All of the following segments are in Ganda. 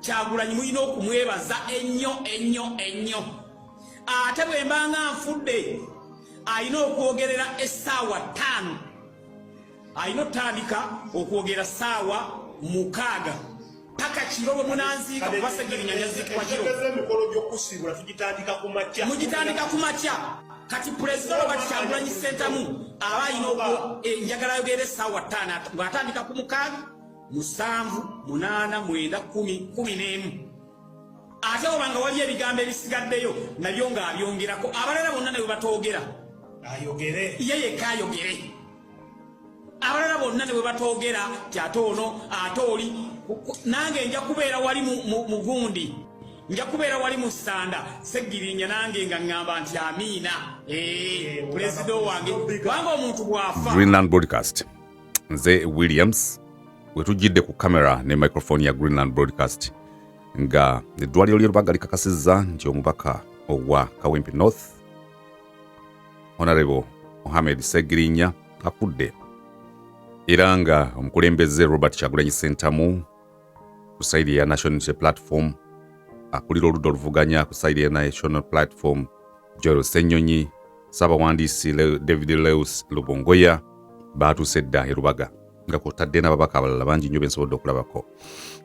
kyagulanyi mulina okumwebaza ennyo ennyo ennyo ate bwembanga nfudde alina okwogerera essaawa ttaano alina otandika okwogera saawa mukaaga paka kiro bwe munanziika kubasegerinya nyaziikibwa kiro emikolo gyokusiibula tugitandika ku makya mugitandika ku makya kati pulezida oba kikyangulanyi sentamu aba alina eh, enjagala yogere saawa ttaano ng'atandika ku mukaaga musanvu munaana mwenda kumi kumi n'emu ate oba nga waliyo ebigambo ebisigaddeyo nabyo ng'abyongerako abalala bonna nawe batoogera ayogere ye yekka ayogere abalala bonna ne bwe batoogera ti ate ono ate oli nange nja kubeera wali mugundi nja kubeera wali mu ssanda seggirinya nange nga ŋŋamba nti amiina eh, pulezida owange kubanga omuntu bw'afa greenland broadcast nze williams we tujjidde ku kamera ne microphone ya greenland broadcast nga eddwaliro ly'erubaga likakasizza nti omubaka owa kawempe north honorable mohamed segirinya afudde era nga omukulembeze robert kyagulanyi sentamu ku saidi eya national unity platform akulira oludda oluvuganya ku saidi eya national platform joel senyonyi saabawandiisi david leus lubongoya baatuuse dda e lubaga nga kwotadde n'ababaka abalala bangi nnyo bensobodde okulabako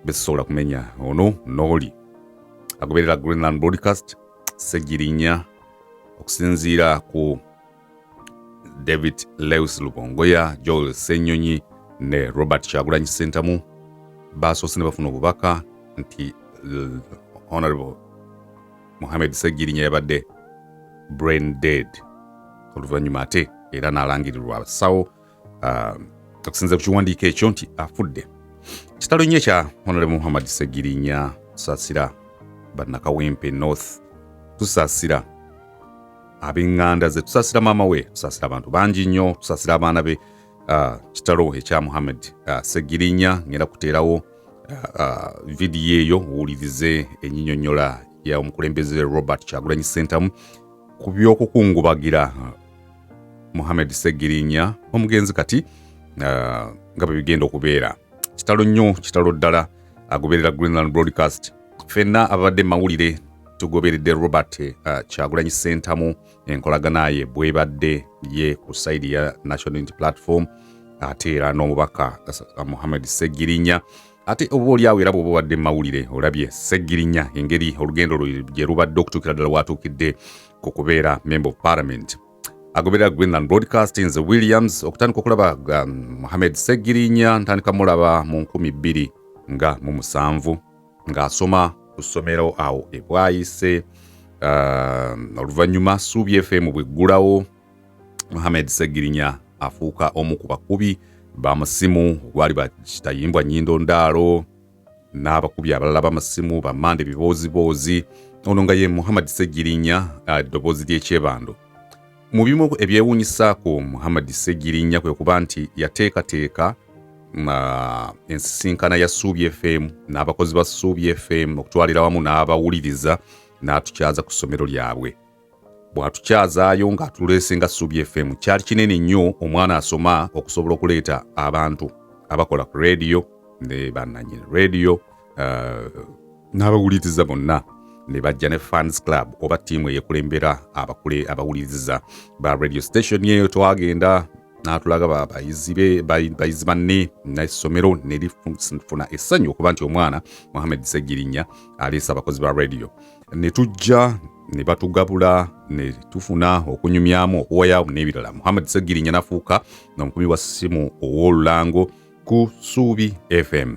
bezisobola kumenya ono n'oli agoberera greenland broadcast segirinya okusinziira ku david lewis lubongoya joel senyonyi ne robert kyagulanyi sentamu baasoose ne bafuna obubaka nti honorable muhammed segirinya yabadde brain dead oluvannyuma ate era n'alangirirwa abasawo ah, okusinza ku kiwandiiko ekyo nti afudde kitalo nnyo ekya honolemu muhammad segirinya tusaasira bannakawempe north tusaasira ab'eŋŋanda ze tusaasira maama we tusaasira abantu bangi nnyo tusaasira abaana be ah, kitalo ekya muhammad ah, segirinya ngenda kuteerawo vidiyo eyo owulirize enyinyonyola ya omukulembeze robert kyagulanyi sentamu ku by'okukungubagira muhammed segirinya omugenzi kati ah, nga bwe bigenda okubeera kitalo nnyo kitalo ddala agoberera greenland broadcast fenna ababadde mawulire tugoberedde robert uh, ah, kyagulanyi sentamu enkolagana ye bwebadde ye ku saidi ya national unity platform ate era n'omubaka uh, muhammed segirinya ate oba olyawo era bwoba obadde mumawulire olabye seggirinya engeri olugendo lwe gye lubadde okutuukira ddala waatuukidde ku kubeera member of parliament agoberera greenland broadcasting ze williams okutandika okulaba um, mohamed seggirinya ntandika mulaba mu 2 nga mu musanvu ng'asoma ku ssomero awo ebwayise um, oluvannyuma suubi fm bweggulawo Mohamed Segirinya afuuka omu ku bakubi bamusimu ogwali bakitayimbwa nyindo ndaalo n'abakubi abalala bamasimu bamande bibooziboozi ono nga ye muhammad segirinya ah, eddoboozi ly'ekyebando mu bimu ebyewuunyisaako muhammad segirinya kwe kuba nti yateekateeka ah, ensisinkana ya suubi fm n'abakozi ba suubi fm okutwalira wamu n'abawuliriza n'atukyaza ku ssomero lyabwe bw'atukyazaayo ng'atuleese nga Ssubi FM kyali kinene nnyo omwana asoma okusobola okuleeta abantu abakola ku leediyo ne bannanyini leediyo uh, n'abawuliriza bonna ne bajja ne fans club oba ttiimu eyekulembera abakule abawuliriza ba radio station eyo twagenda n'atulaga bayizi be bayizi banne n'essomero ne lifuna essanyu okuba nti omwana muhammed ssegirinya aleese abakozi ba radio ne tujja ne batugabula ne tufuna okunyumyamu okuwa yaabu n'ebirala muhammad segirinya nafuuka omukubi wa ssimu ow'olulango ku suubi fm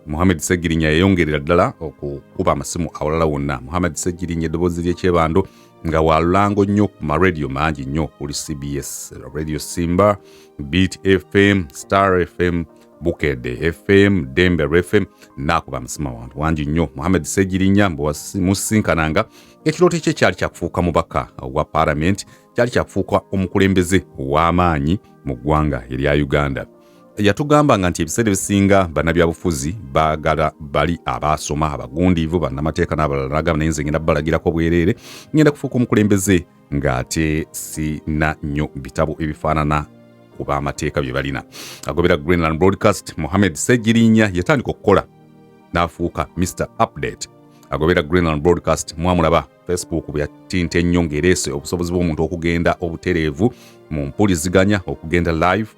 muhammad segirinya yayongerera ddala okukuba amasimu awalala wonna muhammad segirinya eddoboozi ly'ekyebando nga walulango nnyo ku maradio mangi nnyo okuli cbs radio simba beat fm star fm bukedde fm dembe rfm nakuba amasima wantu wangi nnyo muhammed segirinya musisinkananga ekirooto kye kyali kyakufuuka mubaka wa palamenti kyali kyakufuuka omukulembeze ow'amaanyi mu ggwanga erya uganda yatugamba nga nti ebiseera ebisinga bannabyabufuzi bagala bali abaasoma abagundiivu bannamateeka n'abalala nagamba naye nze ngenda balagirako bwereere ngenda kufuuka omukulembeze ng'ate sina nnyo bitabo ebifaanana ku b'amateeka bye balina agobera greenland broadcast mohamed segirinya yatandika okukola n'afuuka mr update agobera greenland broadcast mwamulaba facebook bwe yatinta ennyo ng'ereese obusobozi bw'omuntu okugenda obutereevu mu mpuliziganya okugenda live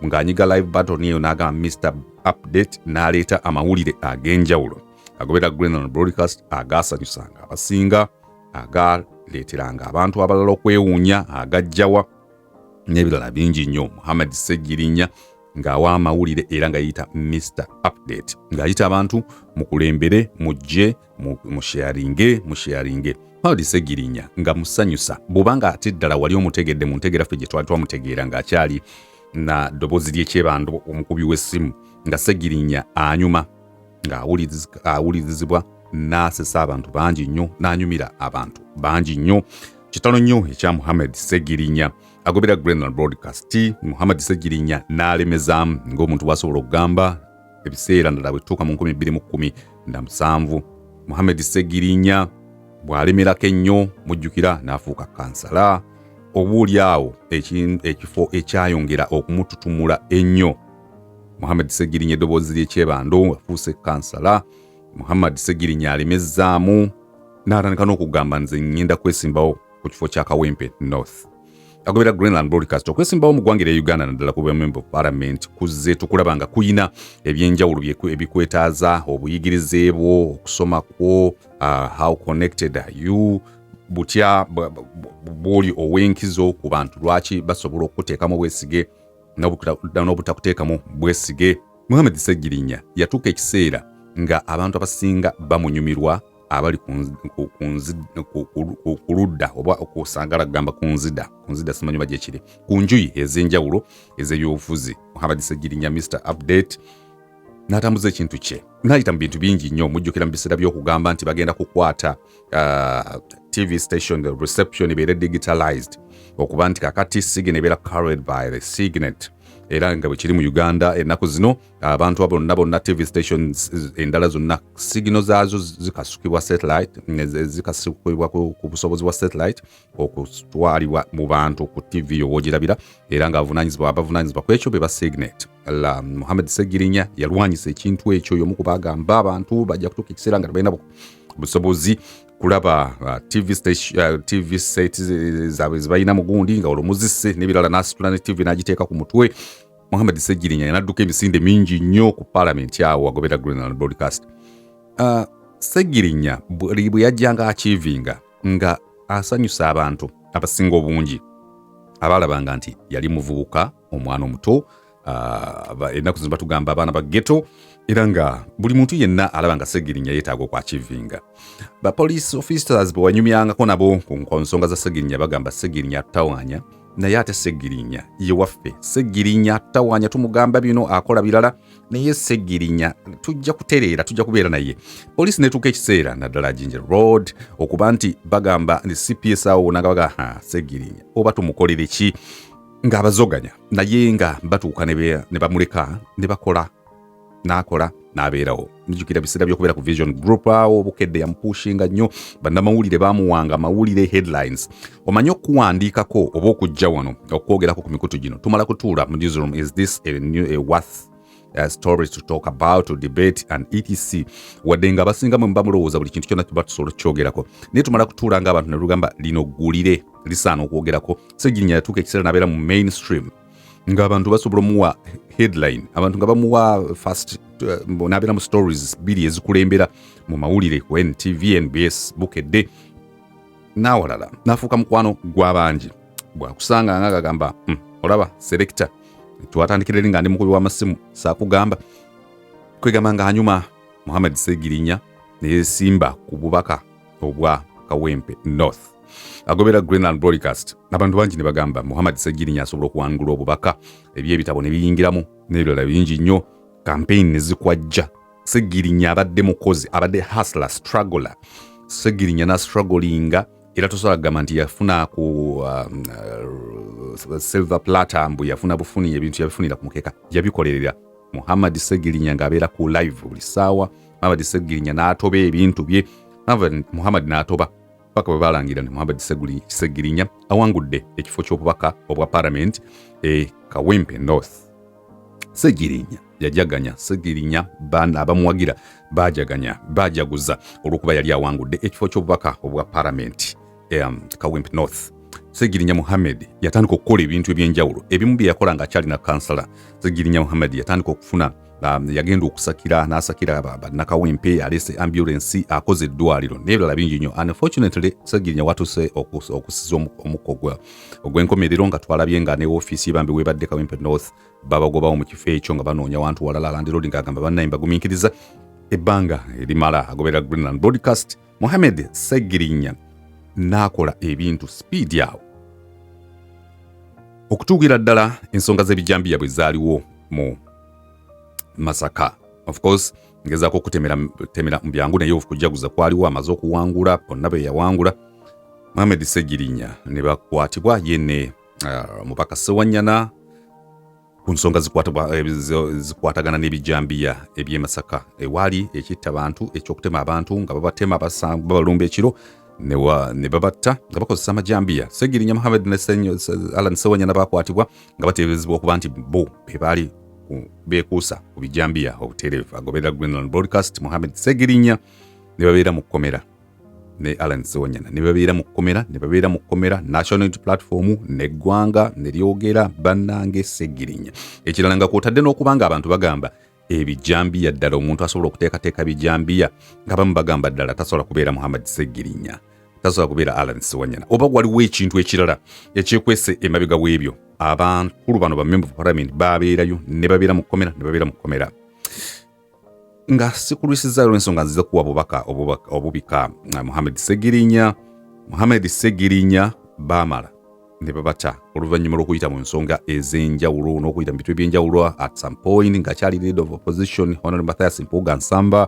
ng'anyiga live baton eyo n'agamba mr update n'aleeta amawulire ag'enjawulo agobera greenland broadcast agaasanyusanga abasinga agaaleeteranga abantu abalala okwewuunya agajjawa n'ebirala bingi nnyo muhammad ssegirinya ng'awa amawulire era nga yeyita mr update ng'ayita abantu mukulembere mujje musheyaringe musheyaringe muhammad ssegirinya nga musanyusa bwoba nga ate ddala wali omutegedde mu ntegera ffe gye twali twamutegeera ng'akyali na ddoboozi ly'ekyebando omukubi w'essimu nga ssegirinya anyuma ng'awulirizibwa n'asesa abantu bangi nnyo n'anyumira abantu bangi nnyo kitalo nnyo ekya muhammad segirinya agobera grenal broadcast muhammad segirinya n'alemezaamu ng'omuntu bwasobola okugamba ebiseera ndala bwetutuuka mu 217 muhammad segirinya bw'alemerako ennyo mujjukira n'afuuka kansala oba oli awo ekifo ekyayongera okumututumula ennyo Muhammad Ssegirinya eddoboozi ly'ekyebando afuuse kansala Muhammad Ssegirinya alemezzaamu n'atandika n'okugamba nze ngenda kwesimbawo ku kifo kya Kawempe North agobera Greenland Broadcast okwesimbawo mu ggwanga erya Uganda naddala ku bwememba parliament kuzze tukulaba nga kuyina ebyenjawulo ebikwetaaza obuyigirize bwo okusoma kwo uh, how connected are you butya bwoli ow'enkizo ku bantu lwaki basobola okukuteekamu obwesige n'obutakuteekamu bwesige muhammad ssegirinya yatuuka ekiseera nga abantu abasinga bamunyumirwa abali ku ludda oba okusangala kugamba ku nzida ku nzida simanyi oba gyekiri ku njuyi ez'enjawulo ez'ebyobufuzi muhammad ssegirinya mr update n'atambuza ekintu kye n'ayita mu bintu bingi nnyo mujjukira mu biseera by'okugamba nti bagenda kukwata uh, tv station the reception ebeere digitalized okuba nti kakati sign ebeera carried by the signet era nga bwekiri mu uganda ennaku zino abantu bonna bonna tv stations endala zonna sigino zaazo zikasukibwa satellite zikasukibwa ku busobozi bwa satellite okutwalibwa mu bantu ku tv yowogirabira era nga abavunanyizibwa abavunanyizibwa ku ekyo be ba signet Allah Muhammad Ssegirinya yalwanyisa ekintu ekyo y'omu ku baagamba abantu bajja kutuuka ekiseera nga tebalina busobozi kulaba uh, TV, station, uh, TV set zaabwe zibalina mu gundi nga olwo muzisse n'ebirala n'asitula ne TV n'agiteeka ku mutwe Muhammad Ssegirinya yanadduka emisinde mingi nnyo ku palamenti awo agobera Greenland Broadcast. Uh, Ssegirinya bwe yajjanga akiivinga nga asanyusa abantu abasinga obungi abaalabanga nti yali muvubuka omwana omuto ah, ennaku zino batugamba abaana ba geto era nga buli muntu yenna alaba nga segirinya yeetaaga okwakivinga ba police officers bwewanyumyangako nabo ku nsonga za segirinya bagamba segirinya atawanya naye ate segirinya ye waffe segirinya tawanya tumugamba bino akola birala naye segirinya tujja kutereera tujja kubeera naye poliisi netuuka ekiseera naddala ginger road okuba nti bagamba ni cps awo wona nga bagaa segirinya oba tumukolere ki ng'abazoganya naye nga batuuka ne bamuleka ne bakola n'akola n'abeerawo nijukira biseera byokubeera ku vision group awo bukedde yamupushinga nnyo bannamawulire baamuwanga amawulire headlines omanyi okuwandiikako oba okujja wano okwogerako ku mikutu gino tumala kutuula mu newsroom is this a new, a worth uh, stories to talk about to debate and etc wadde nga abasinga mwe muba mulowooza buli kintu kyonna kiba tusobola okukyogerako naye tumala kutuula nga abantu ne lugamba lino ggulire lisaana okwogerako segirinya yatuuka ekiseera nabeera mu mainstream ng'abantu basobola omuwa headline abantu nga bamuwa fast uh, nabeera mu stories bbiri ezikulembera mu mawulire ku ntv nbs bukedde n'awalala n'afuuka mukwano gw'abangi bwakusanga nga agagamba hmm, olaba selekita twatandikira eri nga ndi mukubi w'amasimu saakugamba kwegamba nga anyuma muhammad segirinya neyesimba ku bubaka obwa kawempe north agobera greenland broadcast abantu bangi ne bagamba muhammad segirinya asobola okuwangula obubaka ebyo ebitabo ne biyingiramu n'ebirala bingi nnyo kampeyini ne zikwajja segirinya abadde mukozi abadde hasla struggler segirinya na strugglinga era tosobola kugamba nti yafuna ku um, uh, silver plata mbu yafuna bufuni ebintu yabifunira ku mukeeka yabikolerera muhammad segirinya ng'abeera ku live buli ssaawa muhammad segirinya n'atoba ebintu bye muhammad n'atoba paka bwe balangira nti muhammad segirinya awangudde ekifo ky'obubaka obwa paramenti e kawempe north segirinya yajaganya segirinya bana abamuwagira bajaganya bajaguza olwokuba yali awangudde ekifo ky'obubaka obwa paramenti um, kawimp north segirinya muhammed yatandika okukola ebintu ebyenjawulo ebimu bye yakola nga akyalina kansala segirinya muhammed yatandika okufuna um, yagenda okusakira n'asakira bannakawempe yaleese ambulensi akoze eddwaliro n'ebirala bingi nnyo unfortunately segirinya watuse okusiza omukko gwa ogw'enkomerero nga twalabye nga ne ofiisi yebambi webadde kawempe north babagobawo mu kifo ekyo nga banoonya wantu walala landirodi nga agamba bannayi mbagumiikiriza ebbanga erimala agoberera greenland broadcast muhammed segirinya n'akola ebintu sipiidi awo okutuukira ddala ensonga z'ebijambiya bwe zaaliwo mu masaka of course ngezaako okutemera temera mu byangu naye okujaguza kwaliwo amaze okuwangula bonna be yawangula Mohamed Ssegirinya ne bakwatibwa ye ne uh, mubaka Ssewanyana ku nsonga eh, zikwatagana n'ebijambiya eby'e Masaka ewaali ekitta bantu eky'okutema abantu nga babatema babalumba ekiro ne babatta nga bakozesa amajambiya Ssegirinya Mohamed ne Alan Ssewanyana bakwatibwa nga bateeberezebwa okuba nti bo be baali beekuusa ku bijambiya obuteerevu agoberera Greenland Broadcast Mohamed Segirinya ne babeera mu kkomera ne Alan Sewanyana ne babeera mu kkomera ne babeera mu kkomera National Unity Platform n'eggwanga ne lyogera bannange Segirinya ekirala nga kwotadde n'okuba nga abantu bagamba ebijambiya ddala omuntu asobola okuteekateeka bijambiya nga bamu bagamba ddala tasobola kubeera muhammad segirinya tasobola kubeera alan siwanyana oba waliwo ekintu ekirala ekyekwese emabega w'ebyo abakulu bano bamemba parliament babeerayo ne babeera mu kkomera ne babeera mu kkomera nga sikulwisiza olwensonga nziza kuwa bubaka obubika muhammad segirinya muhammad segirinya bamala ne babata oluvannyuma lw'okuyita mu nsonga ez'enjawulo n'okuyita mu bitu eby'enjawulo at some point ng'akyali leader of opposition honore mathias mpuuga nsamba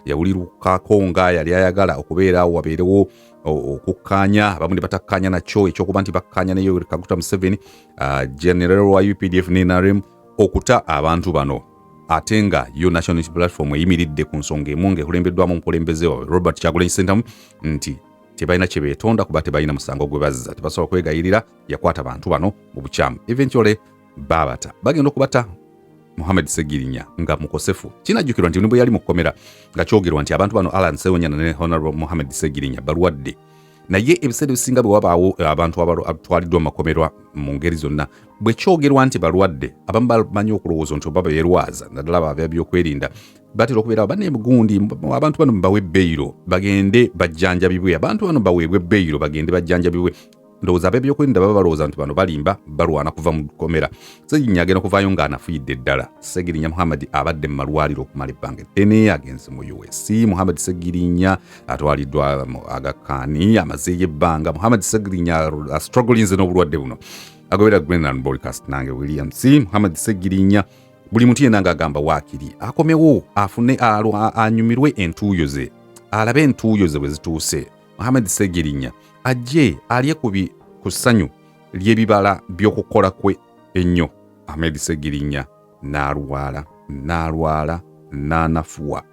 yawulirukako nga yali ayagala okubeera wabeerewo okukkaanya abamu ne batakkaanya nakyo ekyokuba nti bakkaanya ne yoweri kaguta museveni uh, general wa updf ne nrm okuta abantu bano ate nga yo national platform eyimiridde ku nsonga emu ng'ekulembeddwamu omukulembeze wawe robert kyagulanyi sentamu nti tebalina kye beetonda kuba tebalina musango gwe bazza tebasobola kwegayirira yakwata bantu bano mu bukyamu eventually baabata bagenda okubata muhammad segirinya nga mukosefu kinajjukirwa nti nibwe yali mu kkomera nga kyogerwa nti abantu bano alan sewonyana ne honorable muhammad segirinya balwadde naye ebiseera ebisinga bwe wabaawo eh, abantu abatwaliddwa mu makomera mu ngeri zonna bwe kyogerwa nti balwadde abamu bamanyi okulowooza nti oba beerwaza naddala baba byokwerinda batera okubeerawo banne gundi abantu bano bawe beyiro bagende bajjanjabibwe abantu bano baweebwe beyiro bagende bajjanjabibwe ndowooza ab'ebyokwerinda baba balowooza nti bano balimba balwana kuva mu kkomera segirinya agenda kuvaayo ng'anafuyidde ddala segirinya muhammad abadde mu malwaliro okumala ebbanga eddene agenze mu us muhammad segirinya atwaliddwa mu agakaani amazeeyo ebbanga muhammad segirinya astrugglinze n'obulwadde buno agobera grenland broadcast nange william c muhammad segirinya buli muntu yena ng'agamba waakiri akomewo afune anyumirwe entuuyo ze alabe entuuyo ze bwe zituuse muhammad segirinya ajje alye ku ssanyu ly'ebibala by'okukola kwe ennyo ahmed segirinya n'alwala n'alwala n'anafuwa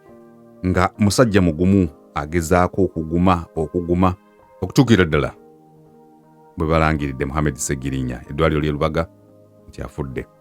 nga musajja mugumu agezaako okuguma okuguma okutuukira ddala bwe balangiridde muhammad segirinya eddwaliro ly'e lubaga nti afudde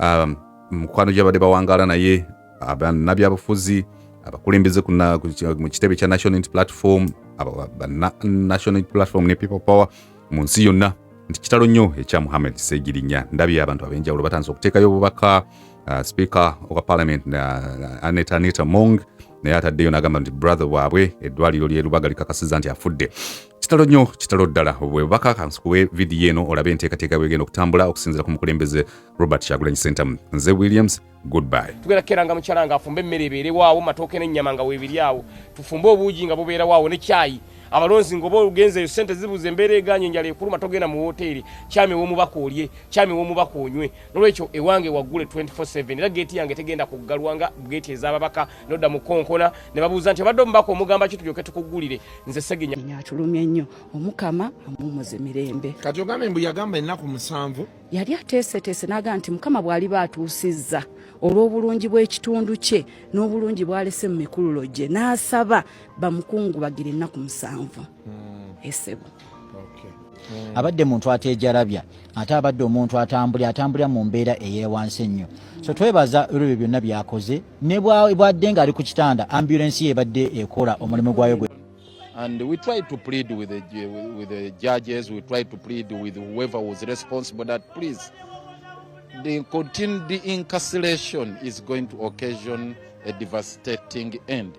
um, mukwano gyabadde bawangaala naye bannabyabufuzi abakulembeze mu kitebe kya national unity platform national unity platform ne people power mu nsi yonna nti kitalo nnyo ekya muhammad segirinya ndabye abantu ab'enjawulo batandise okuteekayo obubaka uh, speaker owa parliament uh, aneta aneta mong naye ataddeyo n'agamba nti brother waabwe eddwaliro ly'e Lubaga likakasiza nti afudde. Kitalo nnyo, kitalo ddala. Bwebubaka kansikuwe vidiyo eno olabe enteekateeka bwegenda okutambula okusinziira ku mukulembeze Robert Kyagulanyi Ssentamu. Nze Williams, goodbye. Tugenda kukeranga mukyala nga afumbe emmere ebeerewaawo, matooke n'ennyama nga weebiri awo, tufumbe obuugi nga bubeerawaawo ne kyayi abalonzi ngoba ogenzeyo sente zibuze embeera eganye enjala ekuluma togenda mu woteeri kyami womubaka olye kyami womubaka onywe nolwekyo ewange waggule 24/7 era geeti yange tegenda kuggalwa nga geeti ez'ababaka nodda mu konkona ne babuuza nti obadde omubaka omugamba ki tulyoke tukuggulire nze seginya nya atulumye nnyo omukama amumuze mirembe kati ogambe mbu yagamba ennaku musanvu yali ateeseteese n'agamba nti mukama bw'aliba atuusizza olw'obulungi bw'ekitundu kye n'obulungi bw'alese mu mikululo gye n'asaba bamukungubagire ennaku musanvu hmm. esebo Mm. abadde muntu ateejalabya ate abadde omuntu atambuli atambulira mu mbeera eyewansi ennyo so twebaza olwebyo byonna byakoze ne bwadde nga ali ku kitanda ambulensi ye ebadde ekola omulimu gwayo gwe And we try to plead with the, with the judges, we try to plead with whoever was responsible that please, the continued incarceration is going to occasion a devastating end.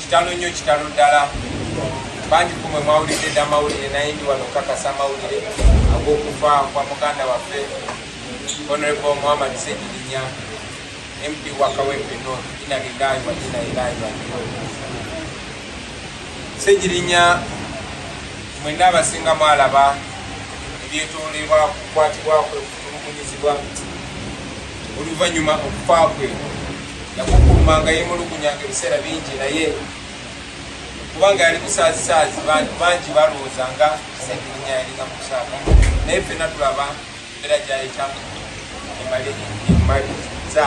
Kitalo nnyo kitalo ddala bangi kumwe mwawulidde dda amawulire naye ndi wano okukakasa amawulire ag'okufa kwa muganda waffe honorable muhammad segirinya mp wa kawempe north ina lilayi wa ina ilayi waliyo segirinya mwena abasinga mwalaba ebyetoolebwa kukwatibwakwe okutulugunyizibwa oluvannyuma okufa kwe yakukuumanga yemulugunyanga ebiseera bingi naye kubanga yali musaazisaazi bantu bangi balowooza nga sentirinya yalinga mu kusaaba naye fena tulaba era gyayitamu emaliza